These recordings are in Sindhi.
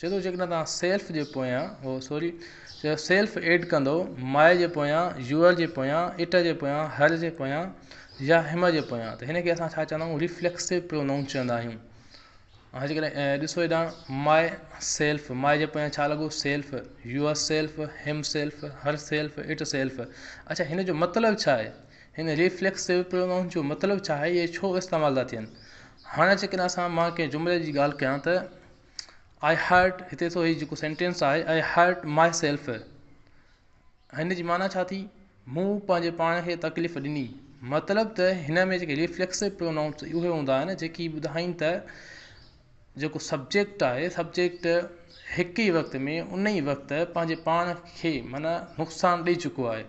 چئي ٿو جيڪڏهن توهان سيلف جي پويان اوهه سوري چيو سيلف ايڊ ڪندو ماء جي پويان يوئر جي پويان اٽ جي پويان هر جي پويان يا هم جي پويان ته هن کي اسان ڇا چوندا آهيون ريفليڪسو پرونائون چوندا آهيون هاڻي جيڪڏهن ڏسو هيڏا ماء سيلف ماء جي پويان ڇا لڳو self yourself himself herself itself اڇا هن جو مطلب ڇا آهي هن ريفليڪسو پرونائون جو مطلب ڇا آهي اهي ڇو استعمال ٿا ٿين هاڻي جيڪڏهن اسان مان ڪنهن جملي جي ڳالهه ڪيان ته آئي هرٽ هتي ڏسو هي جيڪو سينٽينس آهي آئي هرٽ مائي سيلف هن جي معنيٰ ڇا ٿي مون پنهنجي پاڻ کي تڪليف ڏني مطلب ته هن ۾ جيڪي ريفليڪسو پرونائونس اهي هوندا آهن جيڪي ٻڌائين ته جيڪو سبجيڪٽ آهي سبجيڪٽ هڪ ئي وقت ۾ ان ئي وقت پنهنجي پاڻ کي معنيٰ نقصان ڏئي چڪو آهي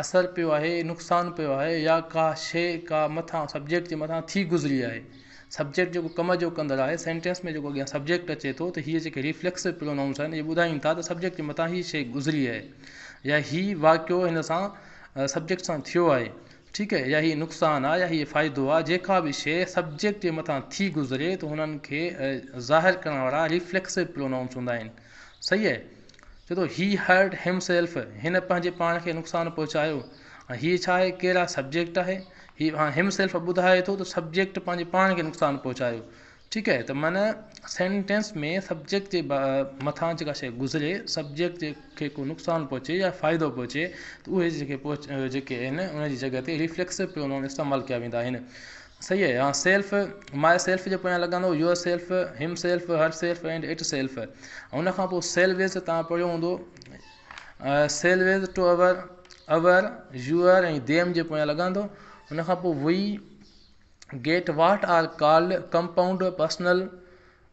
اثر پيو آهي، نقصان پيو آهي يا ڪا شيء ڪا مٿان سبجيڪٽ جي مٿان ٿي گذري آهي. سبجيڪٽ جيڪو ڪم جو ڪندڙ آهي، سينٽينس ۾ جيڪو اڳيان سبجيڪٽ اچي ٿو ته هيء جيڪي ريفليڪسو پرونائونس آهن اهي ٻڌائين ٿا ته سبجيڪٽ جي مٿان هيء شيء گذري آهي يا هيء واقعو هن سان سبجيڪٽ سان ٿيو آهي ٺيڪ يا هيء نقصان آهي يا هيء فائدو آهي جيڪا به شيء سبجيڪٽ جي مٿان ٿي گذري ته هنن کي ظاهر ڪرڻ وارا ريفليڪسو پرونائونس هوندا آهن صحيح ڇو ته He hurt himself هن پنهنجي پاڻ کي نقصان پهچايو. هاڻي هيء ڇا آهي؟ ڪير آهي سبجيڪٽ آهي. هي هاڻي himself ٻڌائي ٿو ته سبجيڪٽ پنهنجي پاڻ کي نقصان پهچايو. ٺيڪ آهي ته معنيٰ سينٽينس ۾ سبجيڪٽ جي مٿان جيڪا شيء گذري سبجيڪٽ کي ڪو نقصان پهچي يا فائدو پهچي ته اهي جيڪي جيڪي آهن ان جي جڳهه تي ريفليڪسو پرونون استعمال ڪيا ويندا آهن. صحيح آهي آن سيلف، ماء سيلف جي پويان لڳندو yourself, himself, herself and itself ۽ ان کان پوء سيل ويز ته توهان پڙهيو هوندو selves to our, our, your ۽ them جي پويان لڳندو ان کان پوء we get what are called compound personal.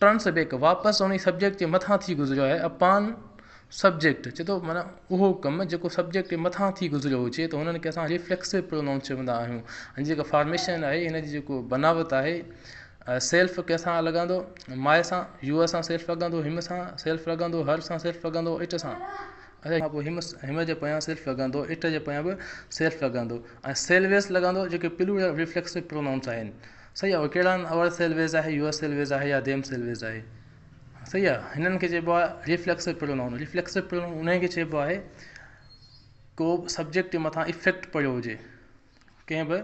Turn سبيڪ واپس انهي سبجيڪٽ جي مٿان ٿي گذريو آهي اپان سبجيڪٽ چي ٿو معنيٰ اهو ڪم جيڪو سبجيڪٽ جي مٿان ٿي گذريو هجي ته هنن کي اسان ريفليڪسو پرونائونس چوندا آهيون هن جي جيڪا فارميشن آهي هن جي جيڪو بناوت آهي سيلف ڪنهن سان لڳندو ماء سان يوء سان سيلف لڳندو هيم سان سيلف لڳندو هر سان سيلف لڳندو اٽ سان ان کان پوء هيم هيم جي پويان سيلف لڳندو اٽ جي پويان به سيلف لڳندو ۽ سيلويس لڳندو جيڪي پلورل ريفليڪسو پرونائونس آهن صحيح آ اهي ڪهڙا آهن اوور سيل ويز آهي يوور سيل ويز آهي يا ديم سيل ويز آهي صحيح آ هنن کي چئبو آهي ريفليڪسو پرونون ريفليڪسو پرونون انهي کي چئبو آهي ڪو به سبجيڪٽ جي مٿان افيڪٽ پيو هجي ڪنهن به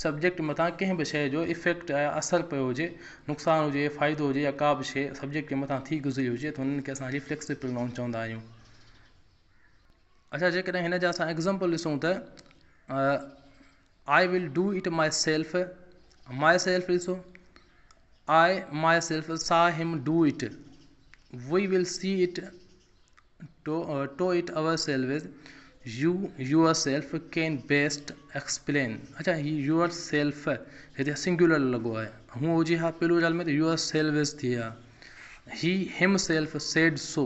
سبجيڪٽ مٿان ڪنهن به شئي جو افيڪٽ آهي اثر پيو هجي نقصان هجي فائدو هجي يا ڪا به شئي سبجيڪٽ جي مٿان ٿي گذري هجي ته انهن کي اسان ريفليڪسو پرونون چوندا آهيون اچا جيڪڏهن هن جا اسان ايگزامپل ڏسون ته I will do it myself myself ڏسو آء ماء سيلف سا him do it we will see it to to it ourselves you yourself can best explain اڇا هي يوئر سيلف هتي سنگيولر لڳو آهي هونء هجي ها پلورل ۾ ته يوئر سيلوز ٿئي ها he himself said so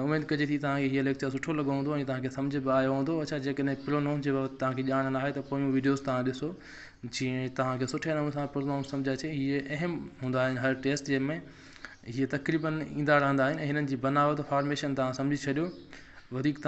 اميد ڪجي ٿي توهان کي هيء ليڪچر سٺو لڳو هوندو ۽ توهان کي سمجهه به آيو هوندو اڇا جيڪڏهن پرونائون جي بابت توهان کي ڄاڻ ناهي ته پويون وڊيوز توهان ڏسو جيئن توهان کي سٺي نموني سان پرونائون سمجهه اچي هيء اهم هوندا آهن هر ٽيسٽ جي ۾ هيء تقريبن ايندا رهندا آهن ۽ هنن جي بناوت فارميشن توهان سمجهي ڇڏيو وڌيڪ توهان